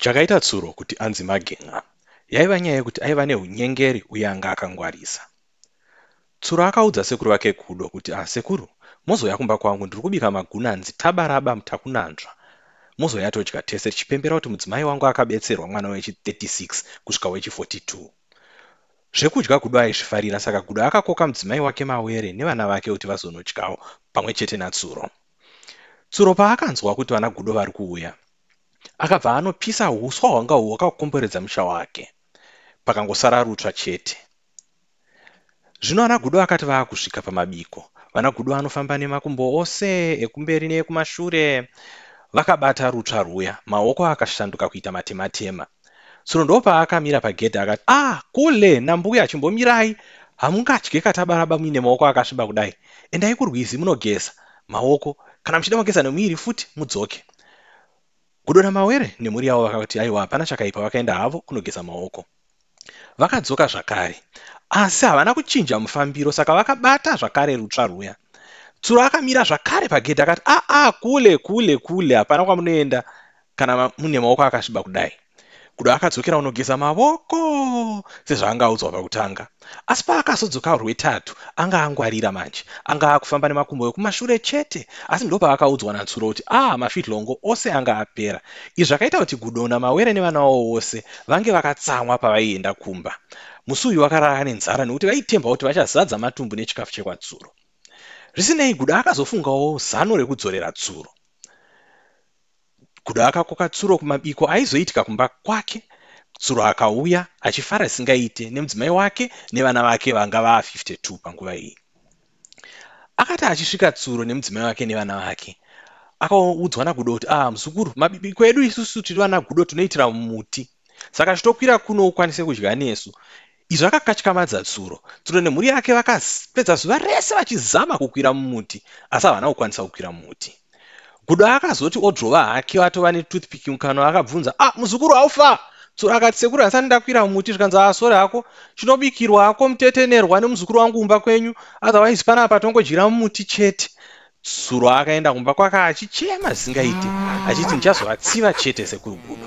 Chakaita Tsuro kuti anzi Magen'a yaiva nyaya yekuti aiva nehunyengeri uye anga akangwarisa. Tsuro akaudza sekuru vake Gudo kuti ah sekuru mozouya kumba kwangu ndiri kubika magunanzi tabaraba mutakunanzva mozouya todya tese tichipembera kuti mudzimai wangu akabetserwa mwana wechi 36 kusvika wechi 42. Zvekudya Gudo aizvifarira saka Gudo akakoka mudzimai wake Mawere nevana vake kuti vazonodyawo pamwe chete naTsuro. Tsuro paakanzwa kuti vana Gudo vari kuuya akabva anopisa huswa hwanga hwakakomberedza musha wake pakangosara rutsva chete zvino ana gudo akati vaakusvika pamabiko vana gudo anofamba nemakumbo ose ekumberi neekumashure vakabata rutsva rwuya maoko akashanduka kuita matematema tsono ndoopaakamira pagedhi akati ah kule nambuya chimbomirai hamungadye katabaraba muine maoko akasviba kudai endai kurwizi munogeza maoko kana muchida mogeza nemuviri futi mudzoke gudona mawere nemhuri yavo vakati aiwa hapana chakaipa vakaenda havo kunogeza maoko vakadzoka zvakare asi havana kuchinja mufambiro saka vakabata zvakare rutsva rwuya tsuro akamira zvakare pagedhi akati aa ah, ah, kule kule kule hapana kwamunoenda kana mune maoko akasviba kudai kudo akadzokera unogeza mavoko sezvaanga audzwa pakutanga asi paakazodzoka rwetatu anga angwarira manje anga akufamba nemakumbo ekumashure chete asi ndo paakaudzwa natsuro kuti a ah, mafitlongo ose anga apera izvi zvakaita kuti gudona mawere nevana wavo vose vange vakatsamwa pavaienda kumba musi uyu vakarara nenzara nekuti vaitemba kuti vachazadza matumbu nechikafu chekwatsuro zvisinei gudo akazofungawo zano rekudzorera tsuro kuda akakoka tsuro kumabiko aizoitika kumba kwake tsuro akauya achifara singaite nemudzimai wake nevana vake vanga vaa 52 panguva iyi akati achisvika tsuro nemudzimai wake nevana vake akaudzwa nagudo kuti ah muzukuru mabiko edu isusu tiri vana gudo tinoitira muti saka chitokwira kuno ukwanise kudya nesu Izvi akakatyamadza tsuro. Tsuro nemhuri yake vakapedza zuva rese vachizama kukwira mumuti asi havana kukwanisa kukwira mumuti. Gudo akazoti odrova hake atova netoothpick mukanwa akabvunza, ah muzukuru haufa? Tsuro akati sekuru handisati ndakwira mumuti zvikanzi ah sori hako chinobikirwa hako mutetenerwa nemuzukuru wangu kumba kwenyu otherwise panapa tongodyira mumuti chete. Tsuro akaenda kumba kwake achichema zvisingaite achiti ndichazovatsiva chete sekuru Gudo.